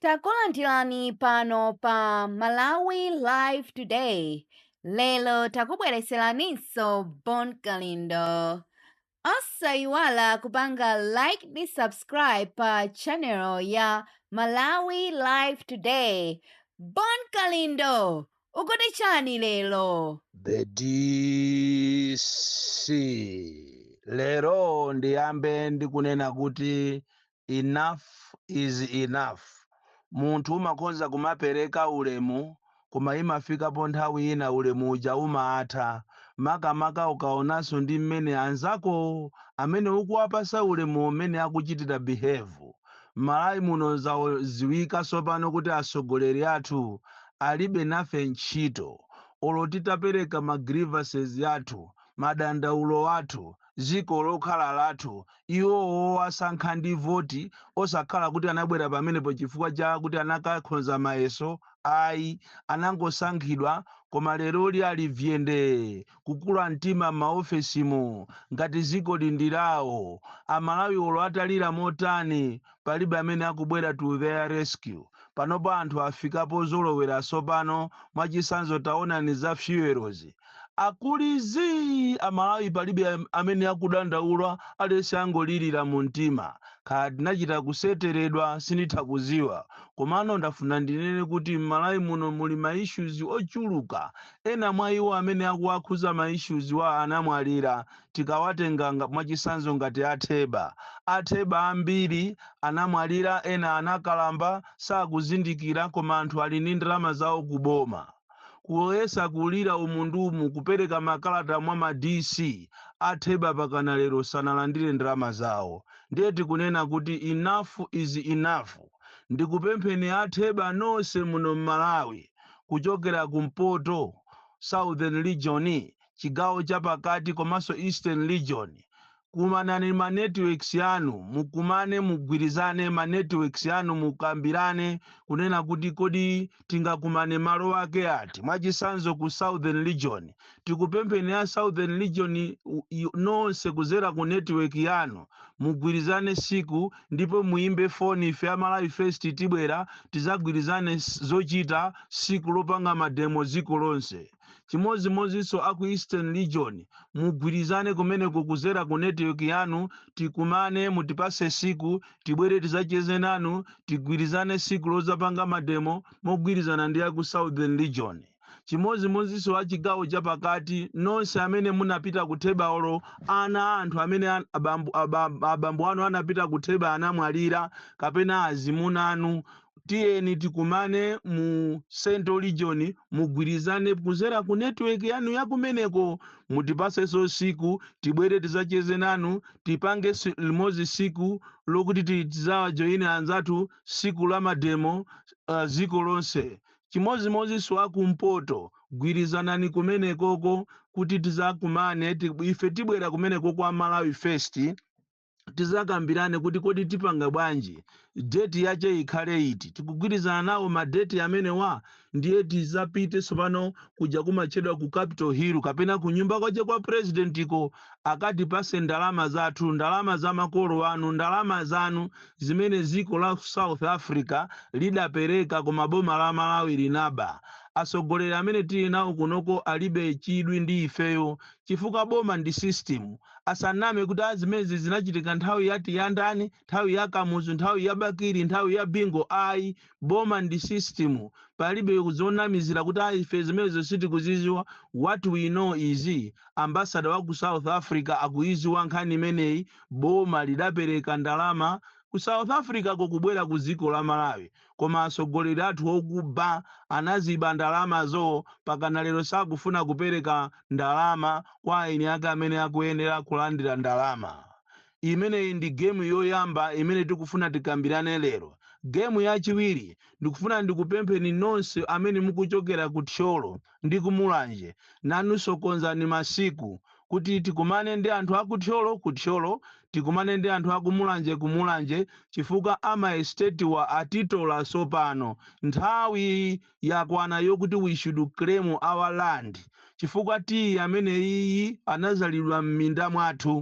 Takulandirani pano pa Malawi Live Today. Lero takubwereseraninso Bon Kalindo. Osayiwala kupanga like ndi subscribe pa channel ya Malawi Live Today. Bon Kalindo, ukuti chani lero? The DC. Lero ndiyambe ndikunena kuti Enough is enough munthu umakhoza kumapereka ulemu koma imafikapo nthawi ina ulemu uja umatha makamaka ukaonanso ndi mmene anzakowo amene ukuwapasa ulemuwo mmene akuchitira behave. Mmalawi muno zaziwika tsopano kuti atsogoleri athu alibe nafe ntchito olo titapereka ma grievances athu, madandaulo athu, dziko lokhala lathu. Iwo owasankha ndi voti osakhala kuti anabwera pamenepo chifukwa cha kuti anakakhonza mayeso ayi, anangosankhidwa koma leroli ali vyende kukula mtima m'maofesimu ngati dzikoli ndi lawo. Amalawi olo atalira motani palibe amene akubwera to their rescue. Panopa anthu afika pozolowera tsopano, mwachisanzo taonani za fuel'zi. Akuli zii! Amalawi palibe amene akudandaula, aliyense angolirira mumtima. Kaya tinachita kuseteredwa sinditha kudziwa, komano ndafuna ndinene kuti m'Malawi muno muli ma issues ochuluka. Ena mwa iwo amene akuwakhudza ma issues wa anamwalira tikawatenga nga mwachisanzo ngati a Theba. A Theba ambiri anamwalira ena anakalamba sakuzindikira koma anthu ali ndi ndalama zawo ku boma. Kuyesa kulira umu ndi umu kupereka makalata mwa ma DC. A Theba pakana lero sanalandire ndalama zawo. Ndiye tikunena kuti enough is enough. Ndikupempheni a Theba nonse muno m'Malawi kuchokera ku mpoto, southern region, chigawo chapakati komanso eastern region kumanani ma networks yanu mukumane mugwirizane ma networks yanu mukambirane kunena kuti kodi tingakumane malo ake ati mwachisanzo ku southern region tikupempheni ya southern region u- i- nonse kuzera ku network yanu mugwirizane siku ndipo muimbe foni ife a Malawi First tibwera tizagwirizane s- zochita siku lopanga mademo dziko lonse chimodzimodzinso aku eastern region mugwirizane kumeneko kuzera ku network yanu tikumane mutipase siku tibwere tizacheze nanu tigwirizane siku lozapanga mademo mogwirizana ndi aku southern region chimodzimodzinso a chigawo chapakati nonse amene munapita kutheba olo ana a anthu amene abambo anu anapita kutheba anamwalira kapena azimuna anu tiyeni tikumane mu central region mugwirizane kuzera ku network yanu yakumeneko mutipaseso siku tibwere tizacheze nanu tipange limodzi siku lokuti ti- tizawajoyine anzathu siku la mademo uh, ziko lonse chimodzimodzinso akumpoto gwirizanani kumenekoko kuti tizakumane ife tibwera kumeneko kwa malawi first tizakambirane kuti kodi tipanga bwanji, date yache ikhale iti, tikugwirizana nawo ma date amenewa? Ndiye tizapite tsopano kuja kumatchedwa ku Capital Hill kapena ku nyumba kwache kwa President ko, akatipase ndalama zathu, ndalama za makolo anu, ndalama zanu zimene dziko la South Africa lidapereka koma boma la Malawi linaba. Atsogoleri amene tili nawo kunoko alibe chidwi ndi ifeyo chifukwa boma ndi system, asaname kuti a zimenezi zinachitika nthawi yati ya ndani, nthawi ya kamuzu, nthawi ya bakili, nthawi ya bingu ayi, boma ndi system, palibe zonamizira kuti a ife zimenezo sitikuziziwa, what we know is ambassador wa ku south africa akuyiziwa nkhani imeneyi, boma lidapereka ndalama ku south africa ko kubwera ku dziko la malawi koma atsogoleri athu okuba anaziba ndalama zo pakana lero sakufuna kupereka ndalama kwa eni ake amene akuyenera kulandira ndalama. Imeneyi ndi game yoyamba imene tikufuna tikambirane lero. Game yachiwiri ndikufuna ndikupempheni nonse amene mukuchokera ku Thyolo. ndi ku Mulanje. Nanunso konzani masiku kuti tikumane ndi anthu a ku Thyolo ku Thyolo, tikumane ndi anthu a ku Mulanje ku Mulanje chifukwa a maesitetiwa atitola tsopano. Nthawi yakwana yokuti we should claim our land chifukwa tiyi ameneyiyi anadzalidwa m'minda mwathu.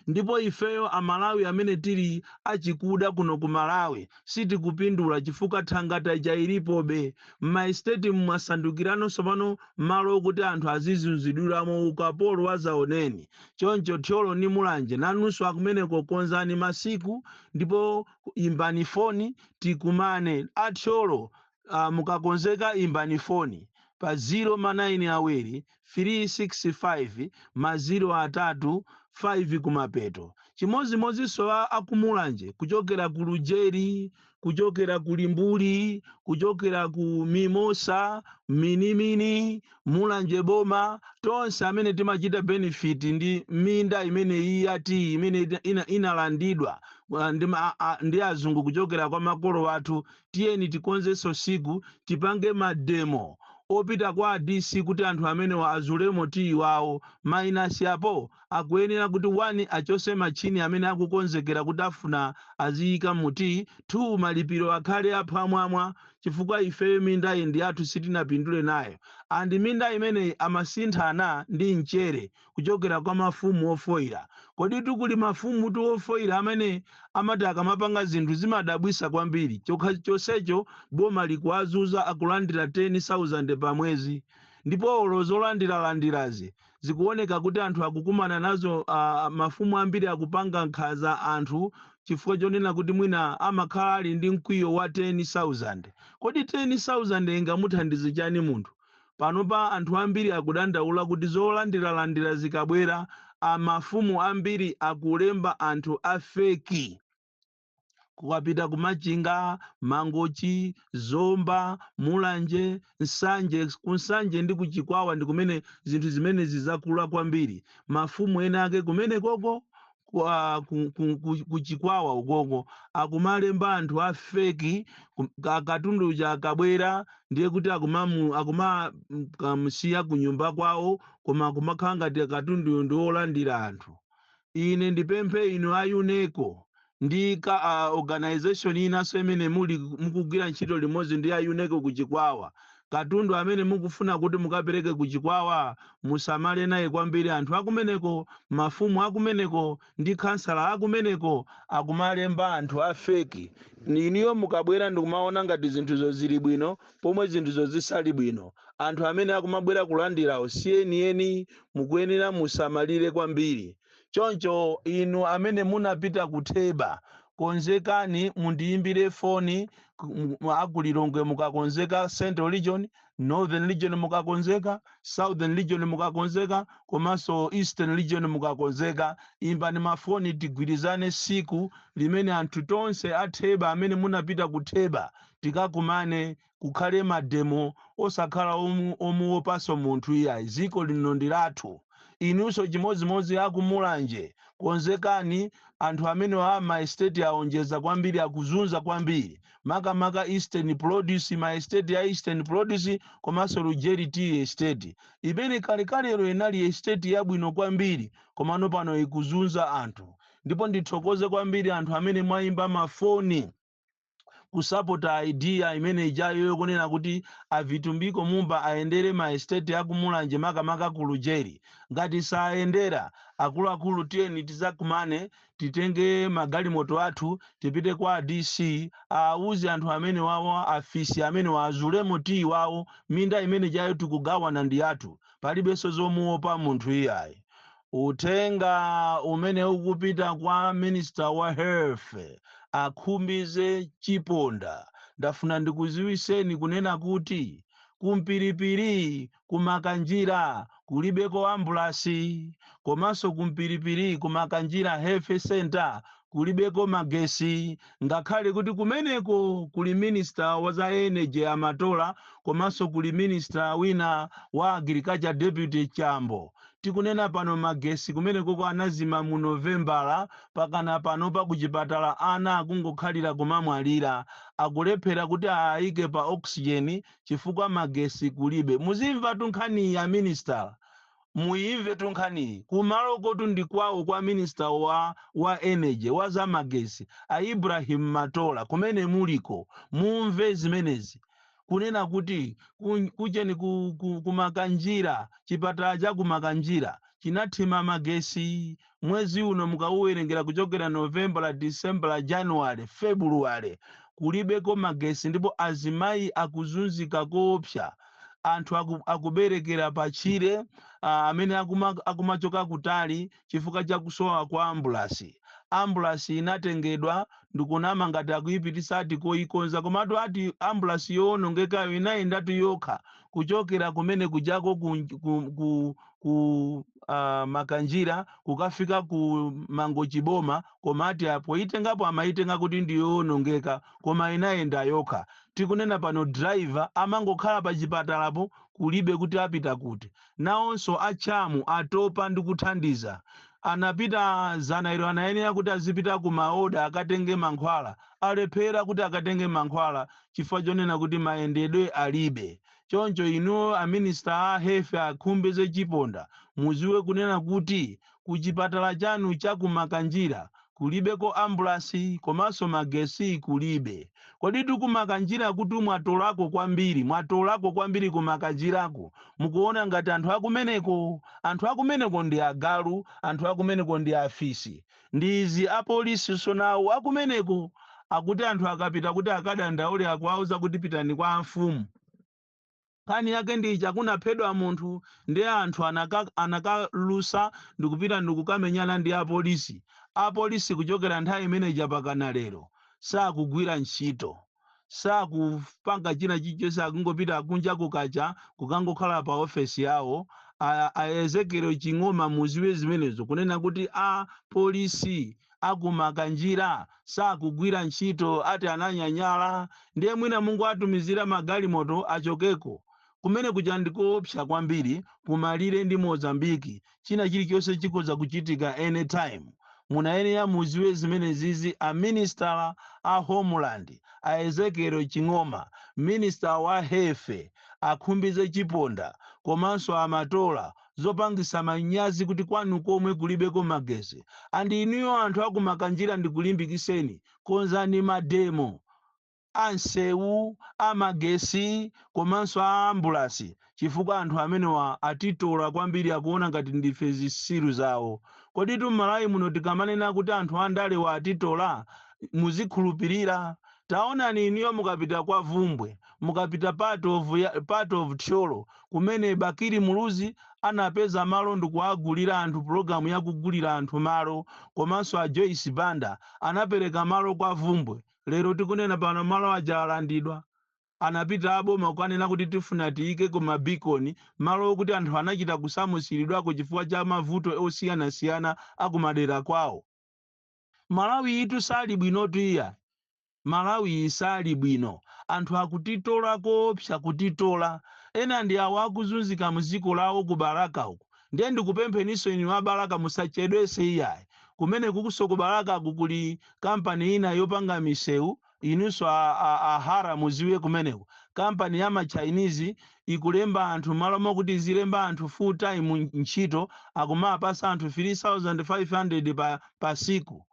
ndipo ifeyo amalawi amene tili achikuda kuno ku malawi sitikupindula chifukwa thangata ija ilipobe. Mma estate'mu mwasandukirano tsopano malo okuti anthu azizunzidwiramo ukapolo wadzaoneni. Choncho Thyolo ndi Mulanje nanunso akumeneko konzani masiku ndipo imbani foni tikumane. A Thyolo a mukakonzeka imbani foni pa ziro ma naini awiri firii sikisi faivi ma ziro atatu faivi kumapeto. Chimodzimodzinso a aku Mulanje kuchokera ku Lujeri, kuchokera ku Limbuli, kuchokera ku Mimosa, Minimini, Mulanje Boma, tonse amene timachita benefit ndi minda imeneyi ya tiyi imene ina, ina, inalandidwa uh, ndi, ma- a- a- ndi azungu kuchokera kwa makolo athu tiyeni tikonzenso tsiku tipange ma demo opita kwa a DC kuti anthu amenewa azulemo tiyi wawo, minus apo akuyenera kuti 1 achose machini amene akukonzekera kuti afuna aziyika mu tiyi, 2 malipiro akhale a phwamwamwa chifukwa ifeyo mindayi ndi yathu sitinapindule nayo and minda imeneyi amasinthana ndi mchere. kuchokera kwa mafumu ofoira. Koditu kuli mafumutu ofoira amene amati akamapanga zinthu zimadabwisa kwambiri chonsecho boma likuwazuza akulandira 10,000 pa mwezi ndipo olo zolandiralandirazi zikuoneka kuti anthu akukumana nazo aah mafumu ambiri akupanga nkhaza anthu chifukwa chonena kuti mwina amakhala ali ndi mkwiyo wa 10,000. Kodi 10,000 ingamuthandize chani munthu? Panopa anthu ambiri akudandaula kuti zolandiralandira zikabwera mafumu ambiri akulemba anthu a fake kukapita ku Machinga, Mangochi, Zomba, Mulanje, Nsanje, ku Nsanje ndi ku Chikwawa ndi kumene zinthu zimenezi zakula kwambiri. Mafumu ena ake kumenekoko kwa ku, ku, ku, ku chikwawa ukoko akumalemba anthu a feki kum- ka- katundu uja akabwera ndiye kuti akumamu- akumakamusiya ku nyumba kwawo koma akumakhala ngati katunduyo ndi wolandira anthu ine ndipemphe inu a YONECO ndi ka a organization inanso imene muli mukugwira ntchito limodzi ndi a YONECO ku chikwawa Katundu amene mukufuna kuti mukapereke ku Chikwawa musamale naye kwambiri anthu akumeneko, mafumu akumeneko ndi khansala akumeneko akumalemba anthu a fake inuyo mukabwera ndikumaona ngati zinthuzo zili bwino pomwe zinthuzo zisali bwino. Anthu amene akumabwera kulandirawo si enieni mukuyenera musamalire kwambiri. Choncho inu amene munapita ku Theba, konzekani mundiyimbire foni, a ku Lilongwe mukakonzeka, Central Region, Northern Region mukakonzeka, Southern Region mukakonzeka komanso Eastern Region mukakonzeka, imbani mafoni tigwirizane siku limene anthu tonse a Theba amene munapita ku Theba tikakumane kukhale mademo osakhala omuwopanso munthu iyayi dziko lino ndilathu inunso chimodzimodzi aku mulanje konzekani anthu amenewa a ma estate awonjeza kwambiri akuzunza kwambiri makamaka eastern produce ma estate ya eastern produce komanso lujeri tea estate imene kalekalelo inali estate yabwino kwambiri komano pano ikuzunza anthu ndipo ndithokoze kwambiri anthu amene mwayimba ma foni kusapota idea imene ijayo yokunena kuti avitumbiko mumba ayendere ma estate akumulanje makamaka ku lujeri ngati sayendera akuluakulu tiyeni tizakumane titenge magalimoto athu tipite kwa dc awuze anthu amene wawo afisi amene awazulemo tiyi wawo minda imene jayo tikugawana ndi yathu palibenso zomuopa munthu iyayi Uthenga umene ukupita kwa minister wa health a Khumbize Chiponda ndafuna ndikuziwiseni kunena kuti ku Mpilipili ku Makanjira kulibeko ambulasi komanso ku Mpilipili ku Makanjira health centre kulibeko magesi ngakhale kuti kumeneko kuli minister wa za energy a Matola komanso kuli minister wina wa agriculture deputy Chambo. Tikunena pano magesi kumenekoko anazima mu Novembala pakana panopa kuchipatala ana akungokhalira kumamwalira. Akulephera kuti aayike pa oxygen chifukwa magesi kulibe. Muzimvatu nkhaniyi a minister. muyimvetu nkhaniyi kumalokotu ndi kwawo kwa minister wa wa energy wa za magesi a Ibrahim Matola kumene muliko mumve zimenezi kunena kuti ku, kucheni ku, ku, ku Makanjira chipatala cha ku Makanjira chinathima magesi Mwezi uno mukauwerengera kuchokera Novembala, Disembala, Januwale, Febuluwale kulibeko magesi ndipo azimayi akuzunzika koopsa. Anthu aku akuberekera patchire aa amene akuma akumachoka kutali chifukwa cha kusowa kwa ambulasi. Ambulasi inatengedwa ndikunama ngati akuipititsa ati koikonza komatu ati ambulasi yoonongekayo inayendatu yokha kuchokera kumene kujako ku ku ku uh, makanjira kukafika ku mangochi boma koma ati apoyitengapo amayitenga kuti ndiyoonongeka koma inayenda yokha tikunena pano driver amangokhala pa chipatalapo kulibe kuti apita kuti nawonso achamu atopa ndi kuthandiza anapita dzana ilo anayenera kuti azipita ku maoda akatenge mankhwala alephera kuti akatenge mankhwala chifukwa chonena kuti mayendedwe alibe Choncho inu a minister a health a Khumbize Chiponda muziwe kunena kuti ku chipatala chanu cha ku Makanjira kulibeko ambulasi komanso magesi kulibe. Koditu ku Makanjirakutu mwatolako kwambiri, mwatolako kwambiri ku Makanjirako. Mukuona ngati anthu akumeneko? Anthu akumeneko ndi agalu, anthu akumeneko ndi afisi. Ndi izi apolisinso nawo akumeneko akuti anthu akapita kuti akadandaule akuwauza kuti pitani kwa amfumu. Nkhani yake ndi ija kunaphedwa munthu ndiye anthu anakalusa ndikupita ndikukamenyana ndi apolisi. Apolisi kuchokera nthawi imene ija pakana lero sakugwira ntchito. sakupanga china chilichonse akungopita kunja kukacha kukangokhala pa ofesi yawo a ezekiel ching'oma muziwe zimenezo kunena kuti a polisi akumakanjira sakugwira ntchito ati ananyanyala ndiye mwina mungowatumizira magalimoto achokeko kumene kuja ndikoopsa kwambiri kumalire ndi mozambiki China chilichonse chikhoza kuchitika any time. Munayenera muziwe zimenezizi a Minisitala a Homeland, a Ezekiel Ching'oma, Minister wa Health, a Khumbize Chiponda komanso a Matola. Zopangisa manyazi kuti kwanu komwe kulibeko magesi. And inuyo anthu aku Makanjira ndikulimbikiseni, konzani mademo. a nsewu, a magesi komanso a ambulasi chifukwa anthu amenewa atitola kwambiri akuona ngati ndife zisiru zawo. Koditu mmalawi muno tikamanena kuti anthu andalewa atitola muzikhulupilira? Taonani inuyo mukapita kwa vumbwe, mukapita part of thyolo kumene Bakili Muluzi anapeza malo ndikuwagulira anthu program yakugulira anthu malo komanso a Joyce Banda anapereka malo kwa vumbwe. Lero tikunena pano malo aja alandidwa. Anapita aboma kukanena kuti tifuna tiyikeko ma beacon, malo okuti anthu anachita kusamusilidwako chifukwa cha mavuto osiyanasiyana a kumadera kwawo. Malawiyitu sali bwinotu iya! Malawiyi sali bwino. Anthu akutitola koopsa, kutitola. Ena ndi awo akuzunzika mziko lawo ku Balaka uku. Ndiye ndikupempheninso inu a Balaka musachedwese iyayi kumenekukuso ku Balakaku kuli company ina yopanga misewu inunso a Hara muziwe kumeneko company ya ma Chinese ikulemba anthu mmalo mokuti izilemba anthu full time ntchito akumawapasa anthu 3500 pa siku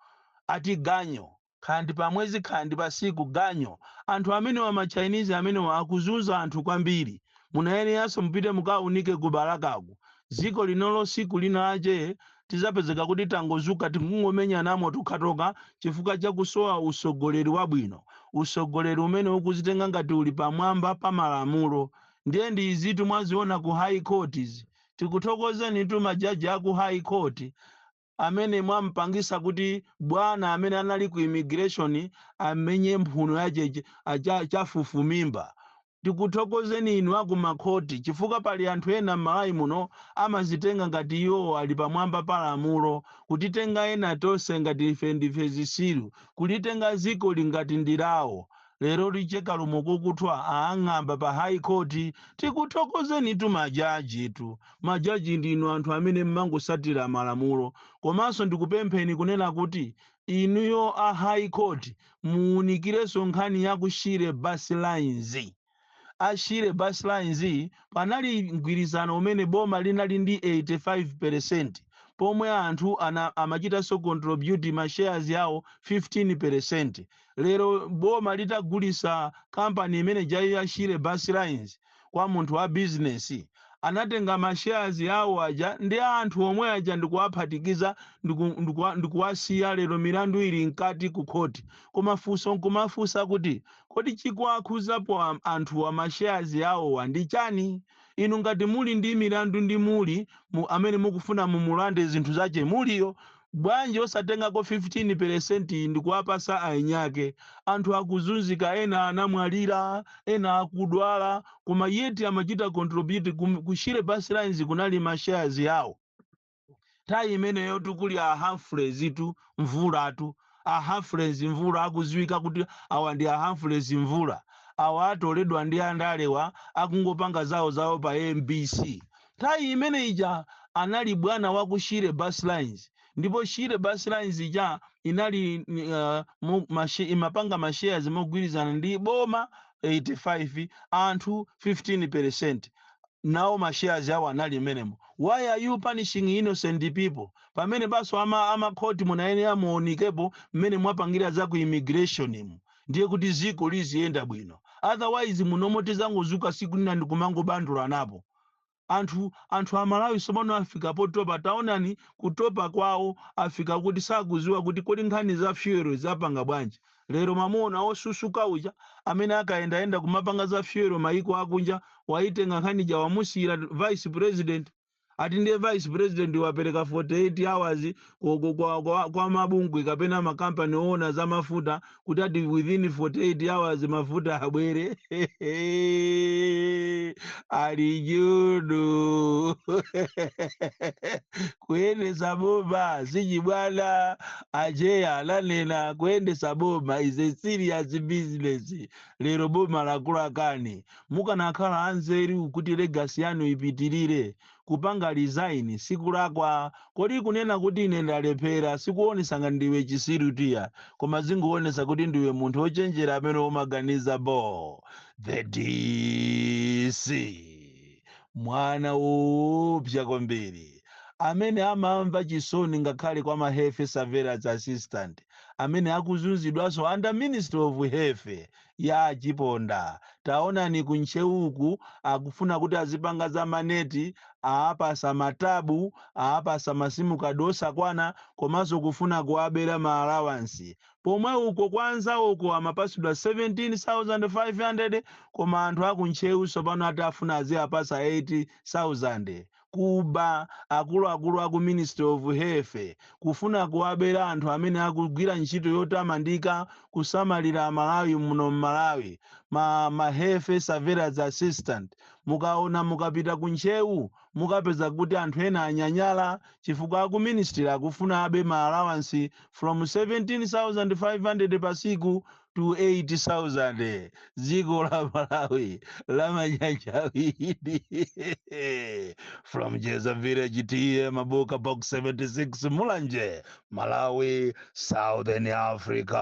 ati ganyo Khandi pa mwezi khandi pa siku ganyo anthu amenewa ma chinese amenewa akuzunza anthu kwambiri munayeneranso mupite mukaunike ku balakaku ziko linolo siku lina lache tidzapezeka kuti tangozuka tikungomenyanamo tokhatokha chifukwa cha kusowa usogoleri wabwino usogoleri umene ukuzitenga ngati uli pamwamba pa malamulo ndiye ndi izitu mwaziona ku high court tikuthokozenitu ma jaji aku high court amene mwampangisa kuti bwana amene anali ku immigration amenye mphuno yache chafufumimba tikuthokozeni inu aku makhoti chifukwa pali anthu ena m'malawi muno amazitenga ngati iwo ali pamwamba pa lamulo kutitenga ena tonse ngati ife ndife zisiru kulitenga zikoli ngati ndi lawo Lero licheka lumo lakuthwa aang'amba pa High Court tikuthokozenitu ma jajitu. Ma jaji ndinu anthu amene mmangosatira malamulo komanso ndikupempheni kunena kuti inuyo a High Court muunikirenso nkhani ya ku Shire bus lines. a Shire Bus Lines panali mgwirizano umene boma linali ndi 85 peresenti pomwe anthu amachitanso contribute ma shares yawo 15 peresenti. Lero boma litagulitsa kampani imene ija ya Shire Bus Lines kwa munthu wa bizinesi, anatenga ma shares yawo aja ndi anthu omwe aja ndikuwaphatikiza ndikuwasiya lero milandu ili mkati ku khoti. Koma funso nkumafunsa kuti Kodi chikuwakhuzapo anthuwa ma shares awowa ndi chani? Inu ngati muli ndi milandu ndi Mulli amene mukufuna mumulande zinthu zache Mulliyo, bwanji osatengako 15 percent ndikuwapasa ainyake? Anthu akuzunzika ena anamwalira, ena akudwala koma yet amachita contribute ku Shire bus lines kunali ma shares awo. nthawi imeneyo tikuli a Humphreys tu Mvula tu a Humphreys Mvula akuziwika kuti awa ndi a Humphreys Mvula awa atoledwa ndi andalewa akungopanga zawo zawo pa MBC nthawi imene ija anali bwana wa ku Shire Bus Lines ndipo Shire Bus Lines ija inali imapanga mashares mogwirizana ndi boma 85 anthu 15% nawo ma shares yawo anali mmenemo why are you punishing innocent people pamenepanso ama khoti munayenera muunikepo mmene mwapangira za ku immigration mu ndiye kuti ziko liziyenda bwino otherwise munomo tizangozuka siku lina ndikumangobandulanapo anthu amalawi tsopano afika potopa taonani kutopa kwawo afika kuti sakuziwa kuti kodi nkhani za fuel zapanga bwanji Lero mwamuona wosusuka uja amene akayendayenda kumapanga za fuel maiko akunja waitenga nkhani ija wamusiyira vice president ati ndiye vice president wapereka 48 hours ku, ku, kwa, kwa, kwa mabungwe kapena makampani oona za mafuta kuti ati within 48 hours mafuta abwere ali judu kuyendesa boma sichibwana Acheya ananena kuyendesa boma is a serious business lero boma lakulakani mukanakhala anzeru kuti legacy yanu ipitilire kupanga resign sikulakwa kodi kunena kuti ine ndalephera sikuonesa ngati ndiwe chisiru tiya koma zingoonesa kuti ndiwe munthu ochenjera amene umaganiza bho the DC. mwana woopsa kwambiri amene amamva chisoni ngakhale kwa ma health surveillance assistant amene akuzunzidwanso under ministry of health ya achiponda taonani ku ntcheuku akufuna kuti azipanga za maneti aapasa matabu aapasa masimu kadi osakwana komanso kufuna kuwabera ma allowance pomwe uko kwa anzawoko amapasidwa 17,500 koma anthu aku Ntcheu sopano ati afuna aziapasa 8,000. Kuba, akuluakulu aku ministry of health kufuna kuwabera anthu amene akugwira ntchito yotamandika kusamalira amalawi muno mmalawi ma ma health surveillance assistant mukaona mukapita ku Ntcheu mukapeza kuti anthu ena anyanyala chifukwa aku ministry akufuna abe ma allowance from 17,500 pa siku to 8,000 dziko la malawi lamanyanja awiri from jeza village TA Mabuka box 76 mulanje malawi southern africa